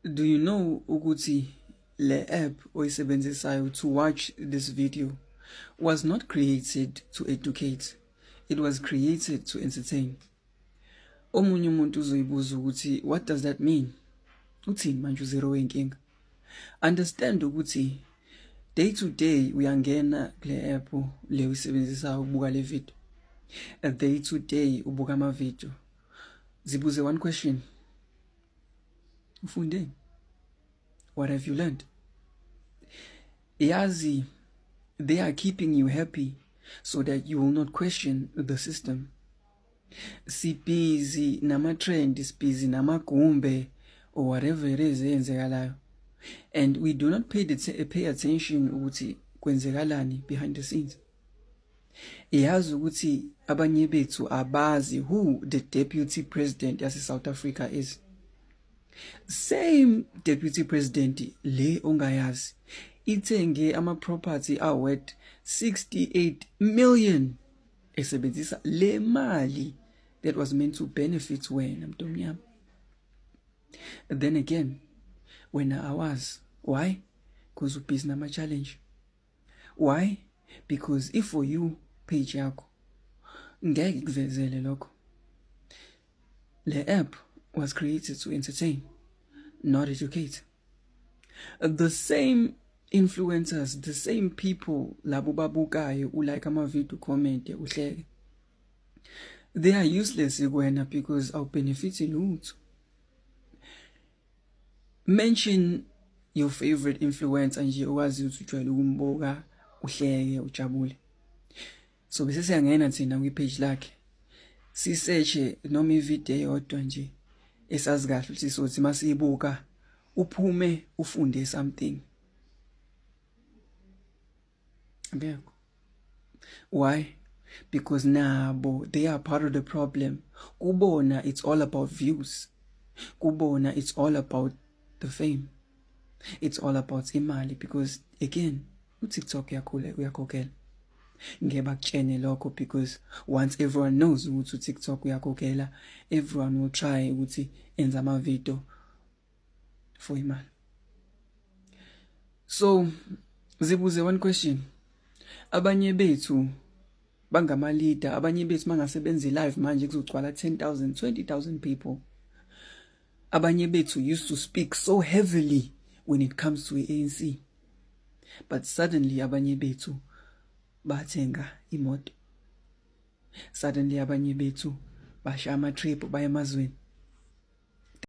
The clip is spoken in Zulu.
Do you know ukuthi le app oyisebenzisayo to watch this video was not created to educate it was created to entertain omunye umuntu uzoyibuza ukuthi what does that mean uthini manje uzero wenkinga understand ukuthi day to day uyangena kule app le uyisebenzisa ukubuka le video day to day ubuka ama video zibuze one question ufundeni what have you learned yazi they are keeping you happy so that you will not question the system sibhizi nama-trend sibhizi namagumbe or whatever it is eyenzekalayo and we do not pay, the pay attention ukuthi kwenzekalani behind the scenes Iyazi ukuthi abanye bethu abazi who the deputy president yase South Africa is. Same deputy president le ongayazi ithenge ama property awet 68 million esebenzisa le mali that was meant to benefit wena mntomnyama. Then again wena awazi why because ubhizi nama challenge why because if for you page yakho ngeke kuvezele lokho le app was created to entertain not educate the same influencers the same people labo babukayo ulike ama video comment uhleke they are useless kuwena because awubenefit lutho Mention your favorite influencer nje owazi ukuthi ujwayele ukumbuka uhleke ujabule. So bese siyangena thina kwi page lakhe. Si search noma i video yodwa nje esazi kahle ukuthi sothi masiyibuka uphume ufunde something. ngekho why because nabo they are part of the problem kubona it's all about views kubona it's all about the fame it's all about imali because again uTikTok yakhule uyakhokhela ngeba kutshene lokho because once everyone knows ukuthi uTikTok uyakhokhela everyone will try ukuthi enza ama video for imali so zibuze one question abanye bethu bangama leader abanye bethu mangasebenzi live manje kuzogcwala 10000 20000 people abanye bethu used to speak so heavily when it comes to ANC but suddenly abanye bethu bathenga imoto suddenly abanye bethu basha ama trip baye emazweni